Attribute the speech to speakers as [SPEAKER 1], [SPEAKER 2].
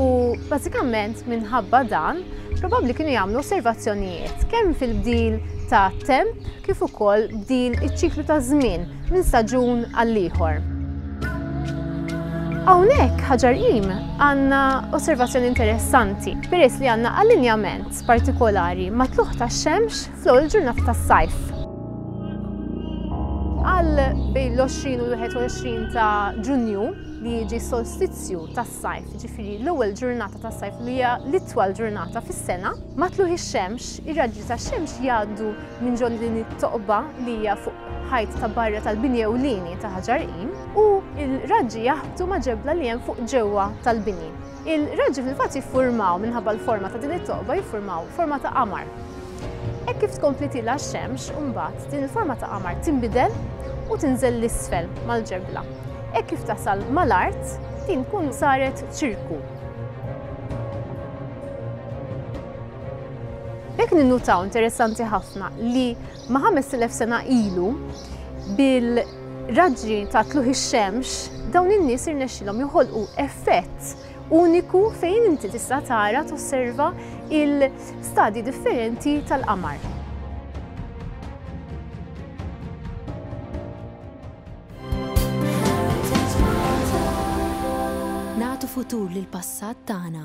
[SPEAKER 1] U bażikament minħabba dan, probabbli kienu jagħmlu osservazzjonijiet kemm fil-bdil ta' temp kif ukoll bdil iċ-ċiklu ta' żmien minn staġun għall-ieħor. Hawnhekk ħaġar qim għandna osservazzjoni interessanti peress li għandna allinjament partikolari ma' tluħ tax-xemx fl-ewwel ġurnata tas-sajf. Għal bejn l-20 u l-21 ta' Ġunju li jiġi solstizzju tas tas-sajf, jiġifieri l-ewwel ġurnata tas-sajf li hija l-itwal ġurnata fis-sena. Ma' tlugħ ix-xemx, ir-raġli tax-xemx jgħaddu minn ġol din it-toqba li hija fuq ħajt ta' barra tal-bini ewlieni ta' ħaġar qim u l-raġġi jaħbtu ma' ġebla li hemm fuq ġewwa tal-bini. Il-raġġi fil-fatt jiffurmaw, minħabba l-forma ta' din it-toqba, jiffurmaw forma ta' qamar. Hekk kif tkompli tilgħa x-xemx, imbagħad din il-forma ta' qamar tinbidel u tinżel 'l isfel mal-ġebla. Hekk kif tasal mal-art, din tkun saret ċirku. B'hekk ninnutaw interessanti ħafna li ma' 5000 sena ilu bil raġġi ta' tluħ ix-xemx, dawn in-nies irnexxilhom joħolqu effett uniku fejn inti tista' tara tosserva il-stadji differenti tal-qamar. Nagħtu futur lill-passat tagħna.